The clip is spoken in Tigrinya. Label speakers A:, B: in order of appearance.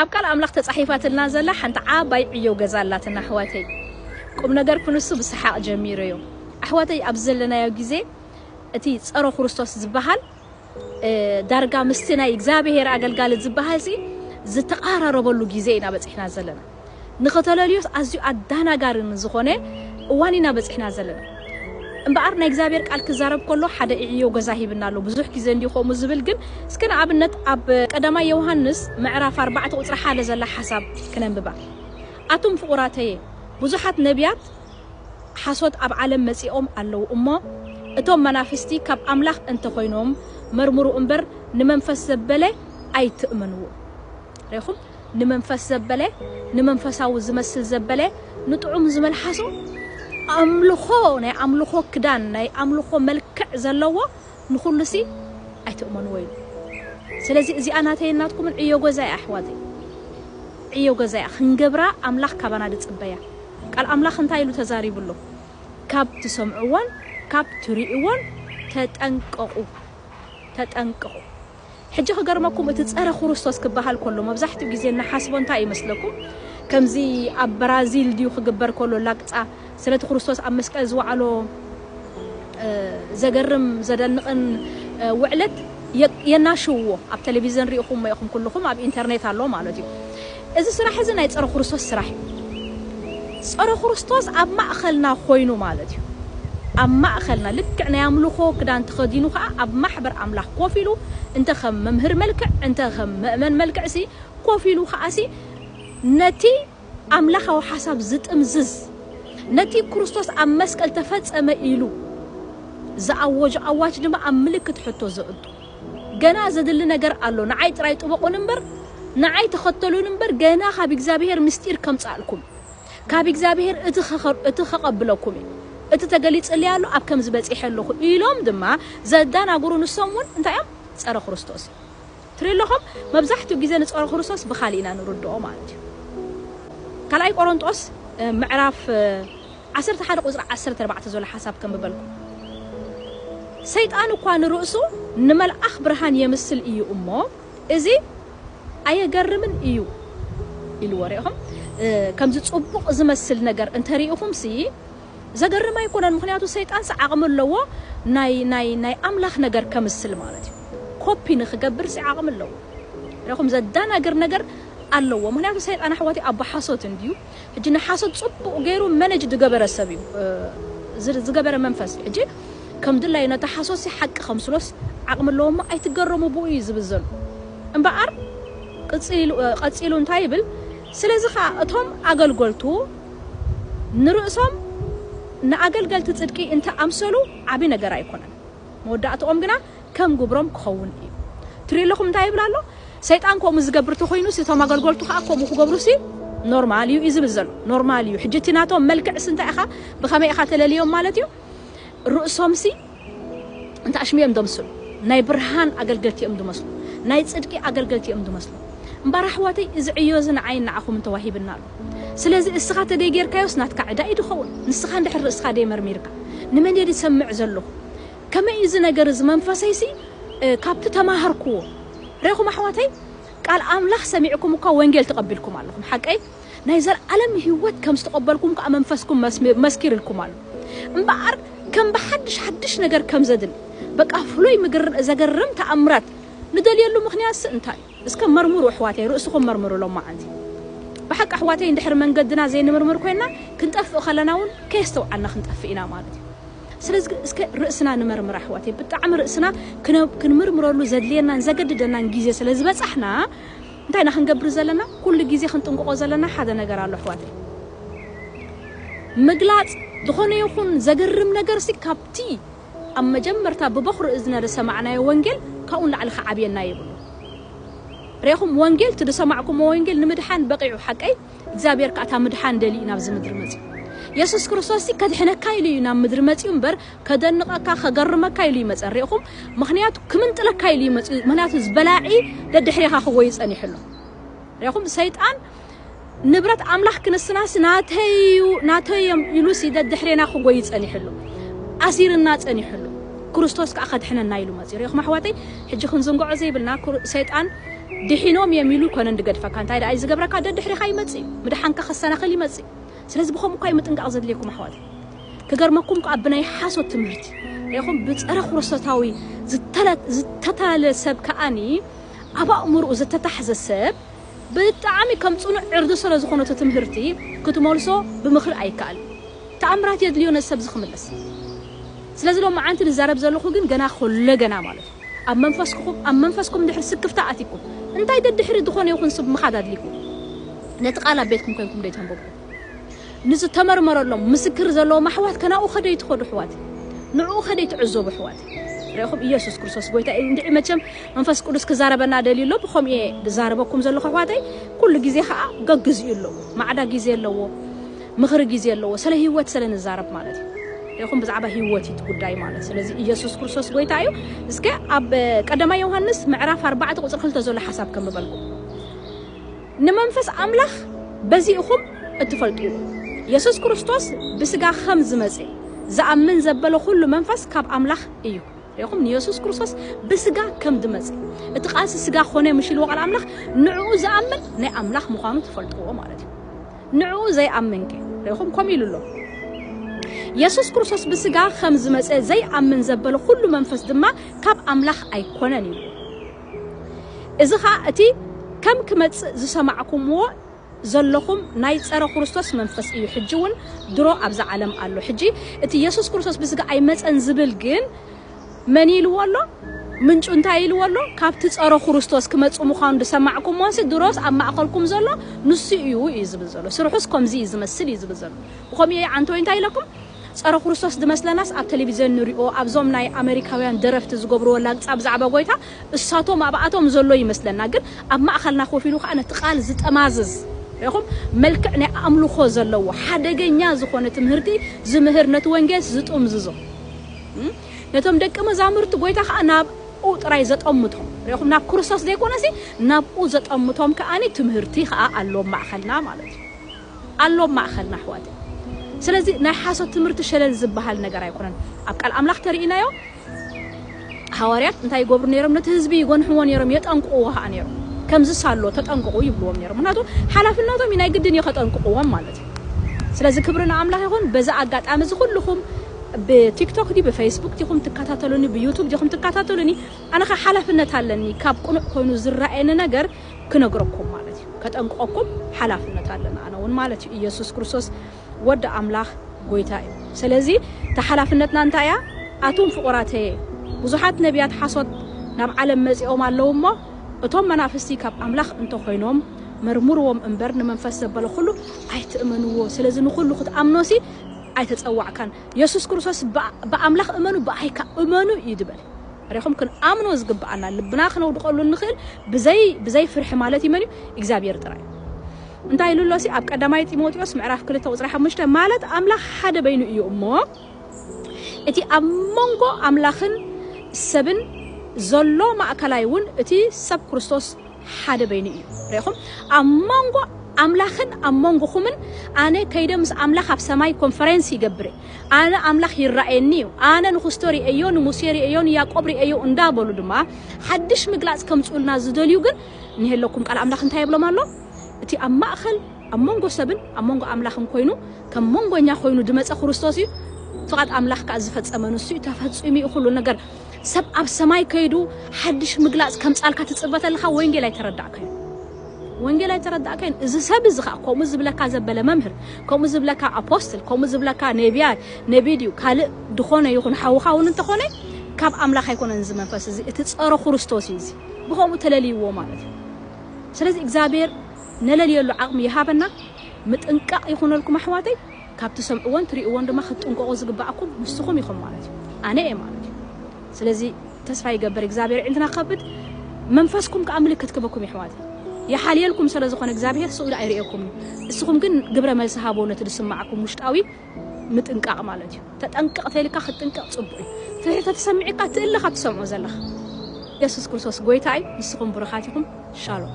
A: ኣብ ቃል ኣምላኽ ተጻሒፋትልና ዘላ ሓንቲ ዓባይ ዕዮ ገዛ ኣላትና ኣሕዋተይ። ቁምነገር ክንሱ ብሰሓቕ ጀሚረዮ። ኣሕዋተይ ኣብዚ ዘለናዮ ግዜ እቲ ጸሮ ክርስቶስ ዝበሃል ዳርጋ ምስቲ ናይ እግዚኣብሄር ኣገልጋሊ ዝበሃልሲ ዝተቓራረበሉ ግዜ ኢና በጺሕና ዘለና። ንኸተለልዮስ ኣዝዩ ኣዳናጋሪ ንዝኾነ እዋን ኢና በጺሕና ዘለና። እምበኣር ናይ እግዚኣብሔር ቃል ክዛረብ ከሎ ሓደ ኢዕዮ ገዛ ሂብና ኣሎ ብዙሕ ጊዘ እንድዩ ከምኡ ዝብል ግን እስከ ንኣብነት ኣብ ቀዳማይ የውሃንስ ምዕራፍ ኣርባዕተ ቁጽሪ ሓደ ዘላ ሓሳብ ክነንብባ ኣቱም ፍቁራተየ ብዙሓት ነብያት ሓሶት ኣብ ዓለም መጺኦም ኣለዉ እሞ እቶም መናፍስቲ ካብ ኣምላኽ እንተ ኾይኖም መርምሩ እምበር ንመንፈስ ዘበለ ኣይትእመንዎ ሬኹም ንመንፈስ ዘበለ ንመንፈሳዊ ዝመስል ዘበለ ንጥዑም ዝመልሓሶ ኣምልኾ ናይ ኣምልኾ ክዳን ናይ ኣምልኾ መልክዕ ዘለዎ ንኹሉሲ ኣይትእመንዎ ኢሉ ስለዚ እዚኣ ናተይን ናትኩምን ዕዮ ገዛ እያ ኣሕዋተይ ዕዮ ገዛ እያ ክንገብራ ኣምላኽ ካባና ድጽበያ ቃል ኣምላኽ እንታይ ኢሉ ተዛሪቡ ኣሎ ካብ ትሰምዕዎን ካብ ትርእይዎን ተጠንቀቑ ተጠንቀቑ ሕጂ ክገርመኩም እቲ ጸረ ኩሩስቶስ ክበሃል ኮሎ መብዛሕትኡ ግዜ እንሓስቦ እንታይ እዩ መስለኩም ከምዚ ኣብ በራዚል ድዩ ክግበር ኮሎ ላግጻ ስለቲ ኩሩስቶስ ኣብ መስቀል ዝወዓሎ ዘገርም ዘደንቕን ውዕለት የናሽውዎ ኣብ ተለቪዘን ሪኢኹሞ ኢኹም ኩሉኹም ኣብ ኢንተርኔት ኣሎ ማለት እዩ እዚ ስራሕ እዚ ናይ ጸረ ኩሩስቶስ ስራሕ እዩ። ጸረ ኩሩስቶስ ኣብ ማእከልና ኮይኑ ማለት እዩ። ኣብ ማእከልና ልክዕ ናይ ኣምልኾ ክዳን ተኸዲኑ ከኣ ኣብ ማሕበር ኣምላኽ ኮፍ ኢሉ እንተ ከም መምህር መልክዕ እንተ ከም መእመን መልክዕሲ ኮፍ ኢሉ ከኣሲ ነቲ ኣምላኻዊ ሓሳብ ዝጥምዝዝ ነቲ ኩሩስቶስ ኣብ መስቀል ተፈጸመ ኢሉ ዝኣወጆ ኣዋጅ ድማ ኣብ ምልክት ሕቶ ዘእቱ ገና ዘድሊ ነገር ኣሎ ንዓይ ጥራይ ጥበቁኒ እምበር ንዓይ ተኸተሉኒ እምበር ገና ካብ እግዚኣብሄር ምስጢር ከምጽኣልኩም ካብ እግዚኣብሄር እቲ እቲ ከቐብለኩም እዩ እቲ ተገሊጽለይ ኣሎ ኣብ ከምዚ በጺሐ ኣለኹ ኢሎም ድማ ዘዳናግሩ ንሶም ውን እንታይ እዮም ጸረ ክርስቶስ እዮም ትሪኡ ኣለኹም መብዛሕትኡ ግዜ ንጸረ ክርስቶስ ብኻሊእ ኢና ንርድኦ ማለት እዩ ካልኣይ ቆሮንጦስ ምዕራፍ ዓሰርተ ሓደ ቁጽሪ ዓሰርተ ኣርባዕተ ዘሎ ሓሳብ ከንብበልኩ ሰይጣን እኳ ንርእሱ ንመልኣኽ ብርሃን የምስል እዩ እሞ እዚ ኣየገርምን እዩ ኢልዎ ሪኢኹም ከምዚ ጽቡቅ ዝመስል ነገር እንተ ሪኢኹምሲ ዘገርም ኣይኮነን ምኽንያቱ ሰይጣንሲ ዓቅሚ ኣለዎ ናይ ናይ ናይ ኣምላኽ ነገር ከምስል ማለት እዩ ኮፒ ንኽገብርሲ ዓቅሚ ኣለዎ ሪኢኹም ዘዳናግር ነገር ኣለዎ ምኽንያቱ ሰይጣን ኣሕዋተይ ኣቦ ሓሶት እንድዩ ሕጂ ንሓሶት ጽቡቕ ጌሩ መነጅ ድገበረ ሰብ እዩ እዚ ዝገበረ መንፈስ ሕጂ ከም ድላዩ ነቲ ሓሶትሲ ሓቂ ከምስሎስ ዓቕሚ ኣለዎ እሞ ኣይትገረሙ ብኡ እዩ ዝብል ዘሎ እምበኣር ቅጺሉ ቀጺሉ እንታይ ይብል ስለዚ ከኣ እቶም ኣገልጎልቱ ንርእሶም ንኣገልገልቲ ጽድቂ እንተ ኣምሰሉ ዓቢ ነገር ኣይኮነን መወዳእትኦም ግና ከም ግብሮም ክኸውን እዩ። ትሪኡ ኣለኹም እንታይ ይብል ኣሎ? ሰይጣን ከምኡ ዝገብር ተኾይኑሲ እቶም ኣገልገልቱ ከኣ ከምኡ ክገብሩሲ ኖርማል እዩ እዩ ዝብል ዘሎ። ኖርማል እዩ። ሕጂ እቲ ናቶም መልክዕሲ እንታይ ኢኻ ብኸመይ ኢኻ ተለልዮም ማለት እዩ? ርእሶምሲ እንተ ኣሽሙ እዮም ዘምስሉ። ናይ ብርሃን ኣገልገልቲ እዮም ዝመስሉ። ናይ ጽድቂ ኣገልገልቲ እዮም ዝመስሉ። እምበኣር ኣሕዋተይ እዚ ዕዮ እዚ ንዓይን ንዓኹምን ተዋሂብና ኣሎ። ስለዚ እስኻ ተደይ ጌርካዮስ ናትካ ዕዳ እዩ ድኸውን ንስኻ እንድሕር ርእስኻ ደይ መርሚርካ ንመን እየ ድሰምዕ ዘለኹ ከመይ እዩ እዚ ነገር እዚ መንፈሰይሲ ካብቲ ተማሃርክዎ ሬኹም ኣሕዋተይ ቃል ኣምላኽ ሰሚዕኩም እኳ ወንጌል ተቐቢልኩም ኣለኹም ሓቀይ ናይ ዘልኣለም ህይወት ከም ዝተቐበልኩም ከኣ መንፈስኩም መስኪርልኩም ኣሎ እምበኣር ከም ብሓድሽ ሓድሽ ነገር ከም ዘድሊ በቃ ፍሉይ ምግር ዘገርም ተኣምራት ንደልየሉ ምኽንያትሲ እንታይ እዩ እስከ መርምሩ ኣሕዋተይ ርእስኹም መርምሩ ሎማዓንቲ ብሓቂ ኣሕዋተይ እንድሕሪ መንገድና ዘይንምርምር ኮይንና ክንጠፍእ ከለና ውን ከየስተውዓልና ክንጠፍእ ኢና ማለት እዩ ስለዚ እስከ ርእስና ንመርምር ኣሕዋተይ ብጣዕሚ ርእስና ክንምርምረሉ ዘድልየናን ዘገድደናን ግዜ ስለ ዝበጻሕና እንታይ ኢና ክንገብር ዘለና ኩሉ ግዜ ክንጥንቅቆ ዘለና ሓደ ነገር ኣሎ ኣሕዋተይ ምግላጽ ዝኾነ ይኹን ዘገርም ነገርሲ ካብቲ ኣብ መጀመርታ ብበዅሪ እዝነ ዝሰማዕናዮ ወንጌል ካብኡ ንላዕሊ ኺዓብየና የብሉን። ርኤኹም፣ ወንጌል፣ እቲ ዝሰማዕኩምዎ ወንጌል ንምድሓን በቒዑ፣ ሓቀይ? እግዚኣብሄር ከኣ እታ ምድሓን ደልዩ እዩ ናብዚ ምድሪ መጺኡ። የሱስ ክርስቶስሲ ከድሕነካ ኢሉ እዩ ናብ ምድሪ መጺኡ እምበር፣ ከደንቐካ፣ ከገርመካ ኢሉ እይመጸን። ርኤኹም? ምኽንያቱ ክምንጥለካ ኢሉ እዩ መጺኡ፣ ምኽንያቱ እዚ በላዒ ደድሕሬኻ ኺጐዪ ጸኒሑ ኣሎ። ርኤኹም? ሰይጣን። ንብረት ኣምላኽ ክንስናስ ናተይ'ዩ ናተይ'ዮም ኢሉሲ ደድሕሬና ክጎዪ ጸኒሑሉ ኣሲርና ጸኒሑሉ ክርስቶስ ከኣ ከድሕነና ኢሉ መጺኡ ርኤኹም ኣሕዋተይ ሕጂ ክንዝንግዖ ዘይብልና ሰይጣን ድሒኖም እዮም ኢሉ ኣይኮነን ድገድፈካ እንታይ ደኣ እዩ ዝገብረካ ደድሕሬኻ ይመጽእ እዩ ምድሓንካ ከሰናኽል ይመጽእ እዩ ስለዚ ብከምኡ እኳ እዩ ምጥንቃቕ ዘድልየኩም ኣሕዋተይ ክገርመኩም ከኣ ብናይ ሓሶት ትምህርቲ ርኤኹም ብጸረ ክርስቶሳዊ ዝተታለለ ሰብ ከኣኒ ኣብ ኣእምሮኡ ዝተታሕዘ ሰብ ብጣዕሚ ከም ጽኑዕ ዕርዲ ስረ ዝኾነቶ ትምህርቲ ክትመልሶ ብምኽሪ ኣይከኣልን ተኣምራት የድልዮ ነዚ ሰብዚ ክምለስ ስለዚ ሎምዓንቲ ድዛረብ ዘለኹ ግን ገና ኮለ ገና ማለቱ ኣብ መንፈስክኹም ኣብ መንፈስኩም ድሕሪ ስክፍታ ኣትኩም እንታይ ደድሕሪ ድኾነ ይኹን ስብ ምኻድ ኣድሊኩም ነቲ ቃል ኣብ ቤትኩም ኮንኩም ደይተንበብኩም ንዝተመርመረሎም ምስክር ዘለዎም ኣሕዋት ከናኡ ከደይ ትኸዱ ኣሕዋት ንዕኡ ከደይ ትዕዘቡ ኣሕዋት ርኢኹም ኢየሱስ ክርስቶስ ጎይታ እዩ እንድዒ መቸም መንፈስ ቅዱስ ክዛረበና ደልዩ ኣሎ ብኸምኡ እየ ዝዛረበኩም ዘለኹ ኣሕዋተይ ኩሉ ግዜ ከዓ ገግዚኡ ኣለዎ ማዕዳ ግዜ ኣለዎ ምኽሪ ግዜ ኣለዎ ስለ ህይወት ስለ ንዛረብ ማለት እዩ ርኢኹም ብዛዕባ ህይወት እዩ ጉዳይ ማለት ስለዚ ኢየሱስ ክርስቶስ ጎይታ እዩ እስከ ኣብ ቀዳማይ ዮሐንስ ምዕራፍ 4 ቁፅሪ 2 ዘሎ ሓሳብ ከንብበልኩም ንመንፈስ ኣምላኽ በዚ ኢኹም እትፈልጥዎ፣ የሱስ ክርስቶስ ብስጋ ኸም ዝመጸ ዝኣምን ዘበለ ኹሉ መንፈስ ካብ ኣምላኽ እዩ። ርኢኹም፣ ንየሱስ ክርስቶስ ብስጋ ከም ድመጸ፣ እቲ ቃልሲ ስጋ ኮነ ምሽ ኢልዎ ቃል ኣምላኽ፣ ንዕኡ ዝኣምን ናይ ኣምላኽ ምዃኑ ትፈልጥዎ ማለት እዩ። ንዕኡ ዘይኣምንከ? ርኢኹም፣ ከምኡ ኢሉ ኣሎ፣ የሱስ ክርስቶስ ብስጋ ኸም ዝመጸ ዘይኣምን ዘበለ ኹሉ መንፈስ ድማ ካብ ኣምላኽ ኣይኮነን ኢልዎ። እዚ ኸኣ እቲ ከም ክመጽእ ዝሰማዕኩምዎ ዘሎኹም ናይ ጸረ ኹርስቶስ መንፈስ እዩ ሕጂ ውን ድሮ ኣብዛ ዓለም ኣሎ ሕጂ እቲ የሱስ ክርስቶስ ብስጋ ኣይመጸን ዝብል ግን መን ኢልዎ ኣሎ ምንጩ እንታይ ኢልዎ ኣሎ ካብቲ ጸረ ኹርስቶስ ክመጽእ ምዃኑ ዝሰማዕኩምዎንሲ ድሮስ ኣብ ማእከልኩም ዘሎ ንሱ እዩ እዩ ዝብል ዘሎ ስርሑስ ከምዚ እዩ ዝመስል እዩ ዝብል ዘሎ ብኸምኡ እየ ዓንተወይ እንታይ ኢለኩም ጸረ ኩርስቶስ ድመስለናስ ኣብ ተለቪዘን ንሪኦ ኣብዞም ናይ ኣመሪካውያን ደረፍቲ ዝገብርዎ ላግጻ ብዛዕባ ጎይታ እሳቶም ኣብኣቶም ዘሎ ይመስለና ግን ኣብ ማእከልና ኮፍ ኢሉ ከኣ ነቲ ቃል ዝጠማዝዝ ሪኢኹም መልክዕ ናይ ኣምልኾ ዘለዎ ሓደገኛ ዝኾነ ትምህርቲ ዝምህር ነቲ ወንጌልስ ዝጥምዝዞ ነቶም ደቂ መዛሙርቲ ጎይታ ከኣ ናብ ኡ ጥራይ ዘጠምቶም ሪኢኹም ናብ ኩርስቶስ ዘይኮነሲ ናብኡ ዘጠምቶም ከኣ ትምህርቲ ከኣ ኣሎ ኣብ ማእከልና ማለት እዩ። ኣሎ ኣብ ማእኸልና ኣሕዋተይ ስለዚ ናይ ሓሶት ትምህርቲ ሸለል ዝበሃል ነገር ኣይኮነን ኣብ ቃል ኣምላኽ ተሪኢናዮ ሃዋርያት እንታይ ይገብሩ ነይሮም ነቲ ህዝቢ ይጎንሕዎ ነይሮም የጠንቅቕዎ ኸኣ ነይሮም ከምዚ ሳሎ ተጠንቅቑ ይብልዎም ነይሮም ምክንያቱ ሓላፍነቶም እዩ ናይ ግድን እዩ ከጠንቅቕዎም ማለት እዩ ስለዚ ክብሪ ንኣምላኽ ይኹን በዚ ኣጋጣሚ እዚ ኩልኹም ብቲክቶክ ዲ ብፌስቡክ ዲኹም ትከታተሉኒ ብዩቱብ ዲኹም ትከታተሉኒ ኣነ ከ ሓላፍነት ኣለኒ ካብ ቅኑዕ ኮይኑ ዝረኣየኒ ነገር ክነግረኩም ማለት እዩ ከጠንቅቀኩም ሓላፍነት ኣለና ኣነ እውን ማለት እዩ ኢየሱስ ክርስቶስ ወዲ ኣምላኽ ጎይታ እዩ ስለዚ እታ ሓላፍነትና እንታይ እያ ኣቱም ፍቑራተየ ብዙሓት ነቢያት ሓሶት ናብ ዓለም መጺኦም ኣለዉ እሞ እቶም መናፍስቲ ካብ ኣምላኽ እንተኾይኖም መርምርዎም እምበር ንመንፈስ ዘበለ ኩሉ ኣይትእመንዎ ስለዚ ንኹሉ ክትኣምኖሲ ኣይተጸዋዕካን የሱስ ክርስቶስ ብኣምላኽ እመኑ ብኣይ ከኣ እመኑ እዩ ዝበለ። ርኢኹም ክንኣምኖ ዝግብኣና ልብና ክነውድቐሉ እንኽእል ብዘይ ብዘይ ፍርሒ ማለት እዩ መን እዩ እግዚኣብሄር ጥራይ እዩ። እንታይ ኢሉ ኣሎሲ ኣብ ቀዳማይ ጢሞቴዎስ ምዕራፍ ክልተ ቁጽሪ ሓሙሽተ ማለት ኣምላኽ ሓደ በይኑ እዩ እሞ እቲ ኣብ መንጎ ኣምላኽን ሰብን ዘሎ ማእከላይ እውን እቲ ሰብ ክርስቶስ ሓደ በይኑ እዩ። ርኢኹም? ኣብ ሞንጎ ኣምላኽን ኣብ ሞንጎኹምን፣ ኣነ ከይደ ምስ ኣምላኽ ኣብ ሰማይ ኮንፈረንስ ይገብር እየ፣ ኣነ ኣምላኽ ይረኣየኒ እዩ፣ ኣነ ንኹስቶ ርእየዮ፣ ንሙሴ ርእየዮ፣ ንያእቆብ ርእየዮ እንዳ በሉ ድማ ሓድሽ ምግላጽ ከምጽኡልና ዝደልዩ ግን እንሄለኩም። ቃል ኣምላኽ እንታይ ይብሎም ኣሎ? እቲ ኣብ ማእከል ኣብ ሞንጎ ሰብን ኣብ ሞንጎ ኣምላኽን ኮይኑ ከም ሞንጎኛ ኮይኑ ድመጸ ኹርስቶስ እዩ፣ ፍቓድ ኣምላኽ ከኣ ዝፈጸመ ንሱ እዩ፣ ተፈጺሙ እዩ ኹሉ ነገር። ሰብ ኣብ ሰማይ ከይዱ ሓድሽ ምግላጽ ከምጻልካ ትጽበ ተለኻ ወንጌል ኣይተረዳእካዮን ወንጌል ኣይተረዳእካዮን እዚ ሰብ እዚ ከኣ ከምኡ ዝብለካ ዘበለ መምህር ከምኡ ዝብለካ ኣፖስትል ከምኡ ዝብለካ ነብያ ነቢ ድዩ ካልእ ድኾነ ይኹን ሓውኻ እውን እንተኾነ ካብ ኣምላኽ ኣይኮነን እዚ መንፈስ እዚ እቲ ጸረ ክርስቶስ እዩ እዚ ብኸምኡ ተለልይዎ ማለት እዩ ስለዚ እግዚኣብሔር ነለልየሉ ዓቕሚ ይሃበና ምጥንቃቕ ይኹነልኩም ኣሕዋተይ ካብ ትሰምዕዎን ትሪእዎን ድማ ክትጥንቀቁ ዝግበኣኩም ንስኩም ኢኩም ማለት እዩ ኣነ እየ ማለት እዩ ስለዚ ተስፋ ይገብር እግዚኣብሔር የዒንትና ክከፍት መንፈስኩም ከዓ ምልክት ክበኩም የሕዋት ይሓልየልኩም ሰለ ዝኮነ እግዚኣብሔር ስእሉ ኣይርእየኩም እዩ እስኩም ግን ግብረ መልሲ ሃብዎ ነቲ ዝስማዓኩም ውሽጣዊ ምጥንቃቅ ማለት እዩ ተጠንቀቅ ተይልካ ክትጥንቀቅ ፅቡቅ እዩ ፍርሒ ተትሰምዕ እካ ትእለ ካብ ትሰምዖ ዘለካ የሱስ ክርስቶስ ጎይታ እዩ ንስኩም ብሩካት ኢኩም ሻሎም።